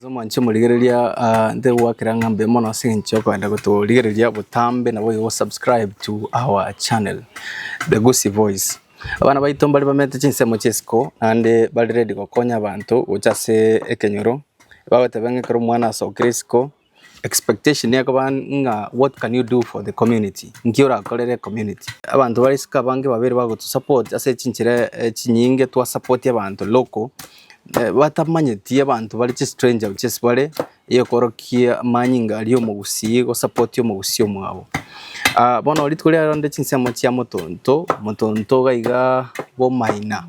Ase omoanche omorigereria ah, ntegwakera ng'a mbe mono ase eng'encho okogenda gotorigereria botambe na boigo subscribe to our channel the Gusii voice abana baito mbare bamete chinsemo chiesiko naende bare ready gokonya abanto gocha ase ekenyoro bagoteba ng'a ekero omwana asokire isiko expectation ekoba ng'a what can you do for the community nki orakorere community abanto bare isiko abange babere bagotosupport ase chinchera eh, chinyinge twa support abanto local batamanyeti abanto bare chistranger gochia ase bare, egekorokia amanyinga aria omogusii gosapoti omogusii omwabo. bono rituko riaye rende chinsemo chia motonto, motonto iga iga bwa omaina,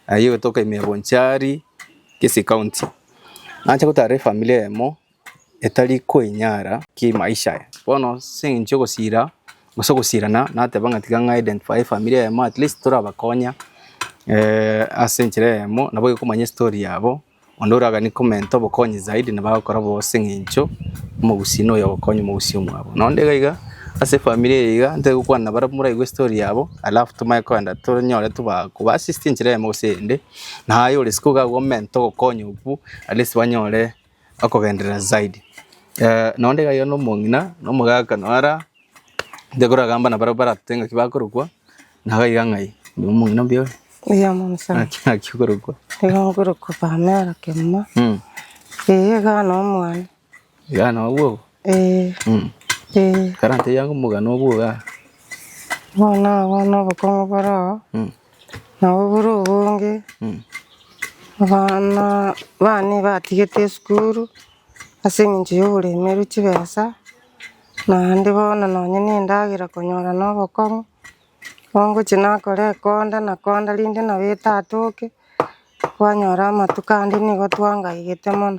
aye ogetoka ime ya Bonchari, Kisii County. Nache gotara efamiri eyemo, etari koinyara kimaisha aya. Bono ase eng'encho yogosira gose ogosirana nateba ng'a tiga ng'a identify efamiri eyemo at least torabakonya ase enchera eyemo nabo okomanya estory yabo onde oragani comment obokonyi zaidi nabo agokora bo ase eng'encho omogusii noyo ogokonya omogusii omwabo. Nonye onde iga iga ase efamiri eye iga ntari gokwana nabarabwo moraigwe estory yabo alafu tomanye kogenda tonyore toba koba assist enchera eyemo gose eyende naye ore isiko iga akoment ogokonya okwo at least banyore. okogenderera zaidi. Eh, nonya onde iga aiyo nomong'ina, nomogaka nonya ara, ntekoragamba nabarabwo barate ng'aki bakorokwa, naga iga ng'ai, oyo omong'ina mbuya oyo, Mbuya mono ng'aki sana. ng'aki okorokwa. Nigo nkorokwa Pamela Kemuma, Mm, eh, iga nonya omwane. iga nonya obwo obo. Eh, Mm, eh, ekero ntebiange omogano obwo igaa. bono abwo nobokong'u bore oo. Mm. Nabo buru obonge abana bane batigete esukuru ase eng'encho ya oboremeru chibesa, naende bono nonye na endagera konyora na obokong'u, bono ngochia nakora ekonda nakonda rende nabete atoke, Twanyora amatuko ande nigo twangaigete mono.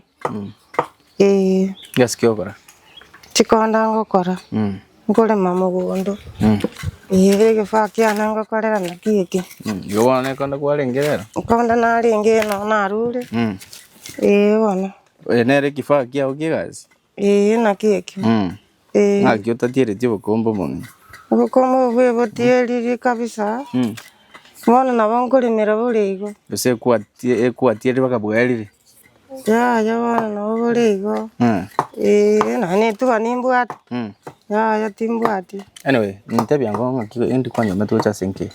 Ee. Gasi kiokora. Chikonda ngokora. Mm. Nkorema mogondo. Mm. Ee egefaa kiane ngokorera naki eke. Mm. Igo bono nekonda kwarenge rero? Ekonda narenge nonya narure. Mm. Ee bono. Nere ekifaa kiago kiegasi? Ee, naki ekio. Mm. Ee. Ng'aki otatieretie obokombe obong'ina? Obokombe obo bwebotieririe kabisa. Mm. Bono nabo nkorimera bore igo. Gose ekwatie- ekwatierire mpaka bwerire? Yaya bono nabo bore igo. Mm. Ee, nonye netuba nimbwate. Mm. Yaya timbwati. Anyway, nintebie ang'o ng'aki endi kwanyomete gocha ase enki?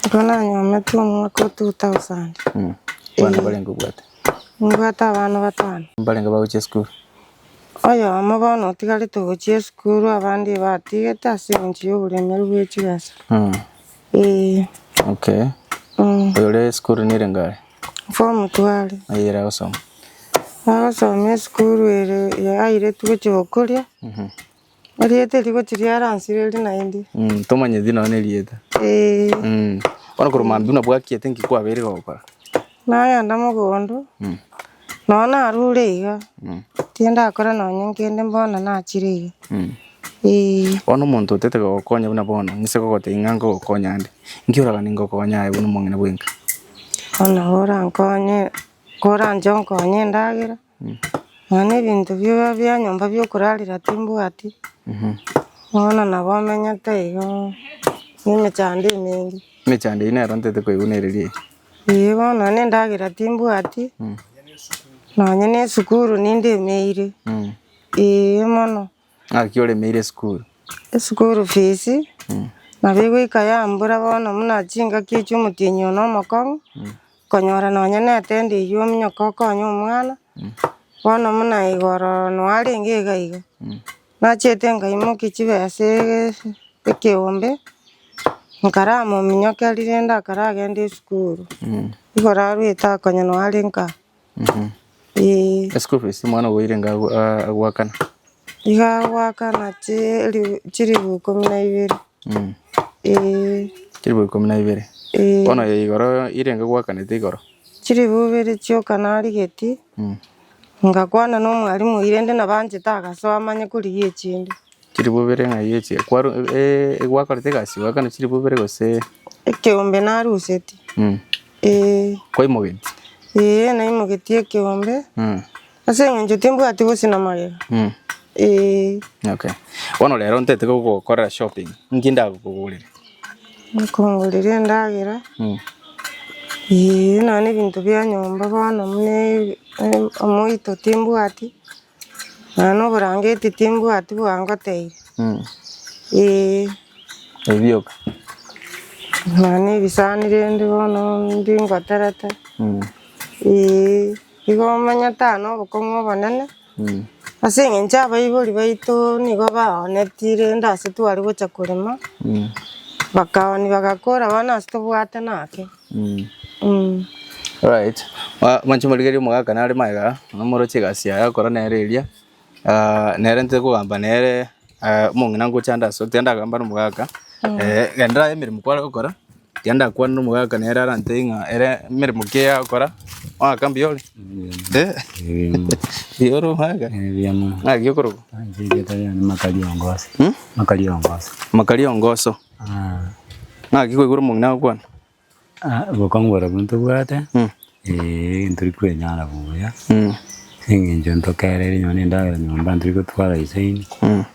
Igo nanyomete omwaka o 2000. Mm. Abana barenge obwate. Nibwate abana batano. Mbarenge bagochia esukuru. Oyomo bono otigarete ogochia esukuru abande igo atigete ase eng'encho y'oboremeri bwe chibesa. Ee. Okay. Oyore esukuru nere ngare? Form two are. Aye ere agosoma? Agosoma esukuru ere airetwe gochia gokoria. Erieta eri goti riaransirwe eri naende. Mm, tomanyeti nonya na erieta. Eh, Mm. Bono korwa mambia buna bwakiete nki kwabeire gokora? nagenda mogondo, Mm. nonya narure iga, Mm. tindakora nonya kende bono nachire iga. Mm. Eh, Bono omonto otete gogokonya buna bono, nise gogotebia ng'a nkogokonya ande. Nki oragani ngokonya aye buna omong'ina bwenka? bono orankonye, koranche onkonye endagera, Nonya ebinto biaye bia nyomba biokorarera timbwati, bono nabo omenyete igo ne emechando emenge. Emechando eyio nero ntete koegunereria eye. Ee bono nonya ne endagera timbwati, nonya ne esukuru ninde emeire, ee mono. Ng'aki oremeire esukuru? Eschool fees nabo egoika yambura bono buna chingaki echio omotienyi one omokong'u konyora nonya ne etendi eywo ominyoke okonye omwana bono buna igo ororo noarenge iga iga nachete nkaimokia chibesa ekeombe nkara mominyoke rende akaragende esukuru igorarwete akonye noare nka. Mhm. Ee, Eschool fees omwana oboire nga agu- a- agoakana. iga agoakana chiri- chilifu ikomi na ibere. Mm. Ee, Chilifu ikomi na ibere. ee, Bono eye igoro irenge goakanete igoro. chilifu ibere chioka narigeti, Mm. ngakwana nomwalimu oyi rende nabo anchete agasoa amanye korigia echinde. Chilifu ibere ng'ai echi? Kwaru eh, eh, gwakorete egasi goakana chilifu ibere gose ekeombe naruseti mm. ee kwaimogeti? ee naimogetie ekeombe Mm. ase eng'encho timbwati gose na magega Mm. ee Okay. Bono rero ntete gokorera shopping. Nki ndagokogorere? nkongorera endagera Mm. ee nonye ebinto bia nyomba bono muna e- e- omoito timbwati Nonya na oborangeti timbwati bwangoteire, eeh. Ebioka. Nonya na ebisani rende bono mbingoterete, eeh. Igo omanyete aa nobokong'u obonene, ase eng'encho abaibori baito nigo baoneti rende ase twari gocha korema, bakaoni bagakora bono ase tobwate naki. Alright, mwanche morigerie omogaka nare magega, namoroche egasi yaye akora nere eria, nere nte kogamba nere omong'ina ngocha ande asore, tiga ndagamba nomogaka, genda aye emeremo kware gokora, tiga ndakwane nomogaka nere arantebie ng'a ere emeremo ki eyakora, omogaka mbuya ore? mbuya ore omogaka? ng'aki okorokwa? Makari o ngoso. Ng'aki kwaigure omong'ina agokwana? Gokongora abwo ntobwate, eh, ntori kwenyara buya, as'engencho ntokereri nonya na endagera nyomba ntori gotwara isaini, nonya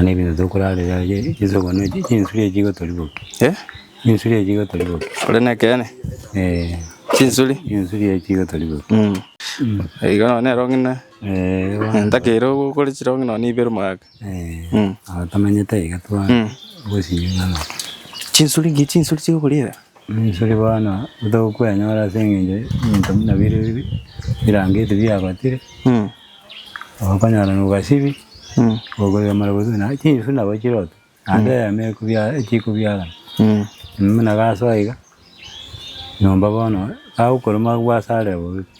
na ebinto tokorarera aye, Yeso okwana oche chinsuri echi igotoriboki, chinsuri echi igotoriboki. Ore nekeene? Eh. Chinsuri? Chinsuri echi igotoriboki. Igo nonye nero ng'ina, ntakaire ogokora chirong'ina nonya ibere omwaka. Abatamanyete iga twagosiria ng'ana. Chinsuri ngiya chinsuri chigokorera. Chinsuri bono togokwenyora ase eng'encho ebinto buna bire birangeti biagotire, okonyora na obwasibi, okorera mara gose buna chinsu nabo chirote, naende eyemo ekobiara chikobiarana. Buna gasoa iga, nyomba bono kagokorwa mabwasarire bobe pi.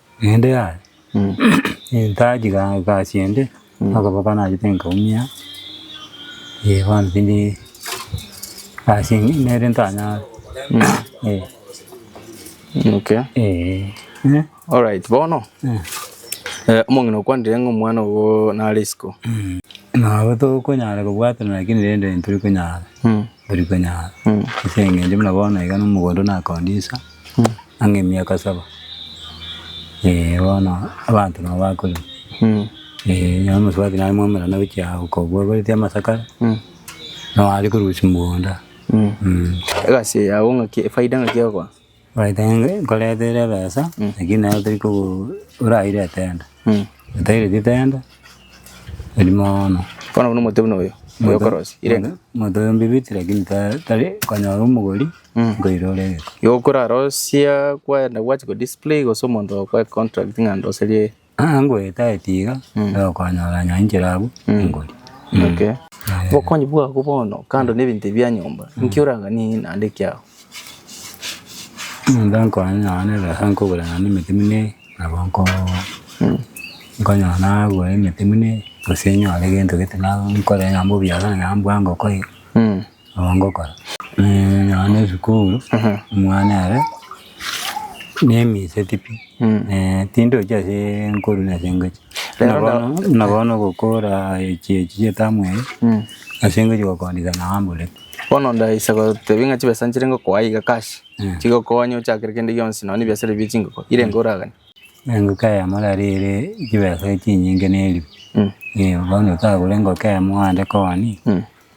Naende yaya, ntachia ga- egasi ende, okoboko nachete nkaumia, eh bono tindi egasi eye nere ntanyare eh. Okay. Eeh. Alright, bono omong'ina okwanire ng'a omwana ogo nare isiko. Nabo tokonyara kobwaterana lakini rende ntori konyara, ntori konyara ase eng'encho buna bono iga na omogondo na condisa. Ang'e emiaka saba, ee, bono abanto nabo bakorire, ee, nonye omosubati nare mwamerana gochia aa okobua oboretie amasakara, nao are korusia mogondo aa, mm. Egasi eye yao ng'aki efaida ng'aki egokora? Faida enge nkoretere ebesa, lakini nero tori kogo oraire etenda, otaireti etenda, eri mono. Bono buna omote buna oyo, oyo okorosia, irenge. Omonto oyo mbibiti lakini ta tari konyora omogori. nkoira ore egeka. Igo okorarosia kwayenda gwachia ko display gose omonto ogokoa econtract ng'a ndoserie. Aa ngoetaete iga nigo okonyora onye inchera abwo ingori. Okay. Obokonyi bwabo bono kando na ebinto bia nyomba inki orang'anie naende kiao? Omonto ankonyire nonya na ebesa nkogora naende emeti buna eye nabo nkobogoa. Nkonyora nagora emeti buna eye gose nyore gento gete na nkore nonya mbobiasara nonya mbwango kore. Nabo ngokora nonya ne esukuru omwana ere nemiseti pi tindochi ase nkorwa na ase ngochia. Buna bono buna bono ogokora echi echi chia etamu eye ase ngochia gokondisa naye ambore pi. Bono ndaisa gotebia ng'a chibesa nchire ngokoa iga cash chigokonye ochakere kende gionsi nonya na ebiasara bie chingoko irenge oraganie. Engoko eyemo rero ere chibesa chinyinge neribu. Bono otagore engoko eyemo ande koni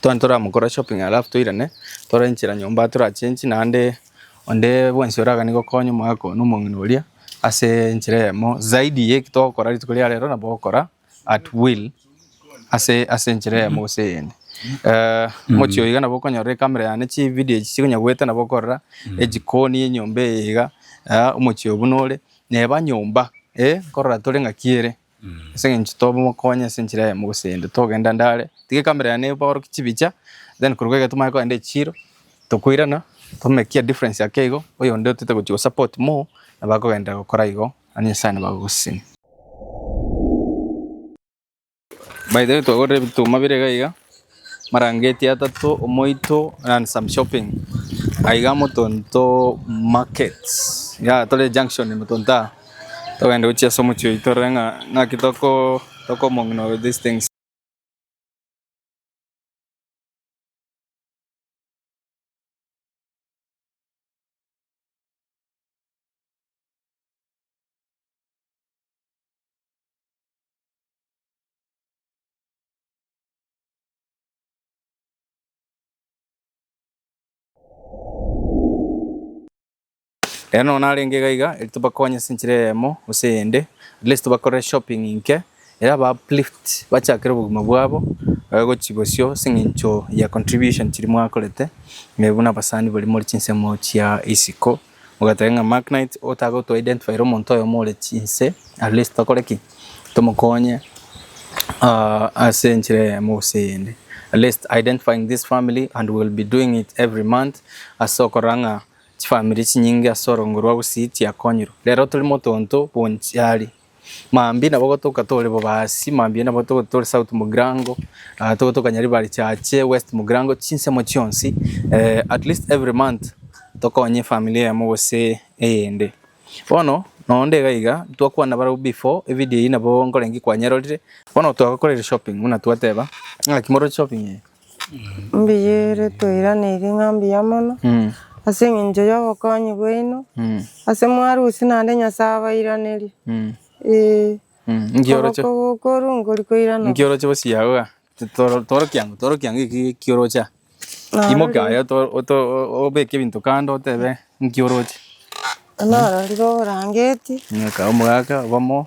Tware toramokora shopping alafu toirane tore nchera nyomba tora change naende onde bwensi oragane gokonya omogaka oyo na omong'ina oria ase enchera eyemo zaidi ya eki togokora rituko ria rero nabo ogokora at will ase ase enchera eyemo gose eyende. Mochie oo iga nabo okonyora ecamera yane chividio echi chikonya goeta nabo okorora ejikoni ya enyomba eye iga omochie oo buna ore neba nyomba nkorora tore ng'aki ere. Ase eng'encho tomokonye ase enchera yaye mogosende togenda ande are tiga ekamera yaye neboorokia chibicha then korwa iga tomanye kogenda echiro tokoirana tomekia difference ake igo oyonde otaete gochia gosupport more nabo akogenderera gokora igo naende Nyasaye nabo agogosesenia. By the way twagorire ebituma bire iga iga Marangeti atato omoito ran some shopping aiga motonto market ya tore junction motonto aa togende gochia ase omochie oito torore ng'a ng'aki toko tokomong'ina with these things. Ere nonya narenge iga iga eri tobakonye ase enchera eyemo gose eyende at least tobakorere shopping inke ere aba uplift bachakere obogima bwabo babe gochi bosio ase eng'encho ya contribution chiria mwakorete buna abasani baria more chinsemo chia isiko. Mogateba ng'a Mark Knight otagoto identifyre omonto oyomo ore chinse at least tokore ki? Tomokonye ase enchera eyemo gose eyende. At least identifying this family and we will be doing it every month ase okorora ng'a chifamiri chinyinge ase orongorwa gusii chiakonyirwe. Rero tore motonto bwonchari Mambia nabo gotoka tore Bobasi, mambia nabo gotoka tore South Mugrango, ah, togotoka Nyaribari Chache, West Mugrango, chinsemo chionsi, eh, at least every month tokonye efamily eyemo gose eyende. Bono nonye onde iga iga, twakwana barabwo before evideo eyio nabo nkorenge kwanyerorire, bono twagokora ere shopping buna twateba, ng'aki moroche shopping eye? Mbuya ere toiraneiri ng'a mbuya mono, ase eng'encho ya obokonyi bwaino, ase mwarusia naende Nyasae abairanerie, eeh. Nki oroche? Okokorwa nkori koirana. Nki oroche gosiya iga? Toro- torokia ang'o? Torokia ang'o eki eki oroche aa? Narorire- Imoke aye oto oto obeke ebinto kando otebe nki oroche. Narorire oborangeti. Ng'aka omogaaka obomo.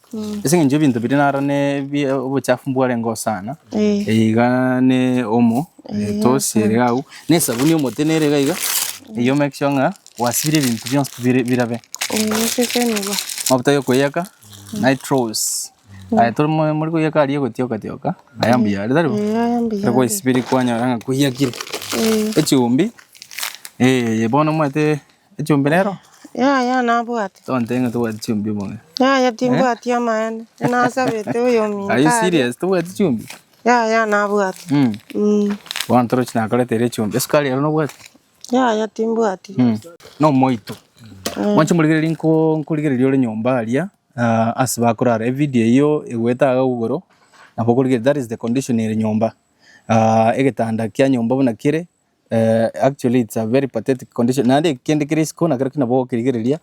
Ase eng'encho ebinto biria naro nebi obochafu mbwarengeo sana, Eh. eye igaa ne omo, Eh, etosi ere iga agwo, na esabuni y'omote nere iga iga, eyio omake sure ng'a gwasibire ebinto bionsi bire birabe. Omoseke nigo. Mafuta yokoyaka, nitrous, aye tore moyo more koyaka aria egotioka tioka, aya mbuya are taribo? Eh, aya mbuya Ekero gwaisibire kwanyora ng'a koyakire. Eh. Echumbi, eh, eye bono omanyete. Echumbi rero? Yaya nabwate. Tonte ng'a tobwate chumbi moyo. Yaya timbwati eh? amaene. Nasabete oyominto. Are you serious? Tobwate chumbi? Yaya nabwate. Mm. Mm. Bono toro chinakorete ere chumbi. Esukari ero nobwate? Yaya timbwati. Mm. No moito. Mm. Mwanche murigereria nko nkurigereria ore nyomba aria uh, ase bakorara. E video iyo egweta aga ugoro. Nabo korigereria that is the condition ere nyomba. Uh, egetanda kia nyomba buna kire. Eh, actually it's a very pathetic condition naende eki kende kere isiko nakero ki nabo gokerigereria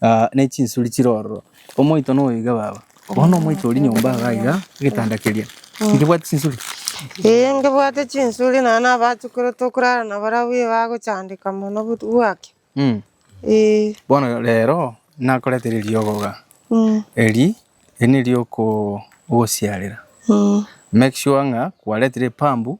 ah, ne chinsuri chire ororo omoito noyo iga baba bono omoito ori nyomba iga iga egetanda keria nkebwate chinsuri Ee, nkebwate chinsuri naye nabachukire tokorara na barabwo iye bagochandeka mono but- bwaki Mm. Ee, bono rero nakoretera eriogo iga mm, eri eri nerioko ogosiarera mm. make sure ng'a kwaretire epambu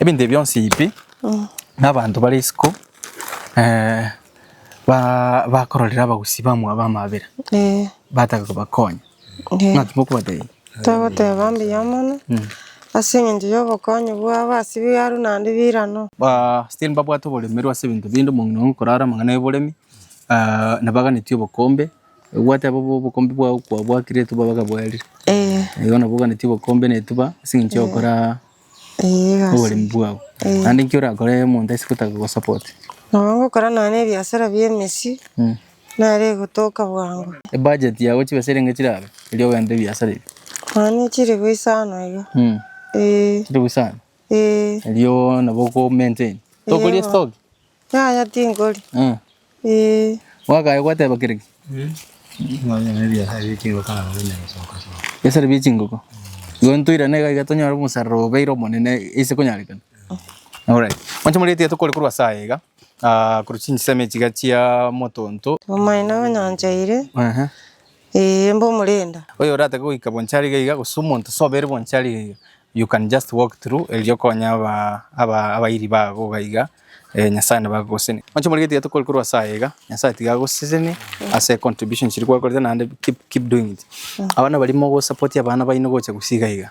Ebinto ebi bionsi pi, nabanto bare isiko bakororera abagusii bamwabo b'amabera, batake kobakonya. Ng'a ki mokobatebia? Togoteba mbuya mono, ase engencho y'obokonyi bwabo ase biaru naende birano. Ba still mbabwate oboremeru ase ebinto binde, omong'ina oye okorara amang'ana y'oboremi, nabaganeti obokombe, gwateba obokombe bwao kwabwakire etuba bakabwerire. Igo nabo oganeti obokombe na etuba ase engencho y'ogokora. oboremi bwabo, naende inki orakore omonto aise gotaka kogosupport? Nabo ngokora nonya na ebiasara bia emesii, nere egotoka bwango. Ebudget yago chibesa erenge chirabe erio ogente ebiasara ebi? Nonya na chire goisana iga, eeh. Chire goisana? Eeh. Erio nabo oko maintain? Tokoria estoki? Yaya tinkori. Eh. Eh. Mwakaye gwateba kere ki? Biasara bie chingoko. Igo ntoirane iga iga tonyore omosaruro obeire omonene ise konyarekana. Alright. Mwanche moria etia tokore korwa ase aya iga, ah, korwa chinsemo echi iga chia motonto. Omaene onyancheire. Ehe. Ee, mbe omorenda. Oyo oratake goika bwancha ariga iga gose omonto sobere bwancha ariga iga you can just walk through erio okonye aba aba abairi bago iga iga eh, Nyasaye nabo agogosenia. Mwanche more gatiga tokore korwa ase aya iga, Nyasaye tiga agosesenie ase contribution chiria gwakorete naende keep keep doing it. Abana baria mogosapotia abana baino gocha gose iga iga.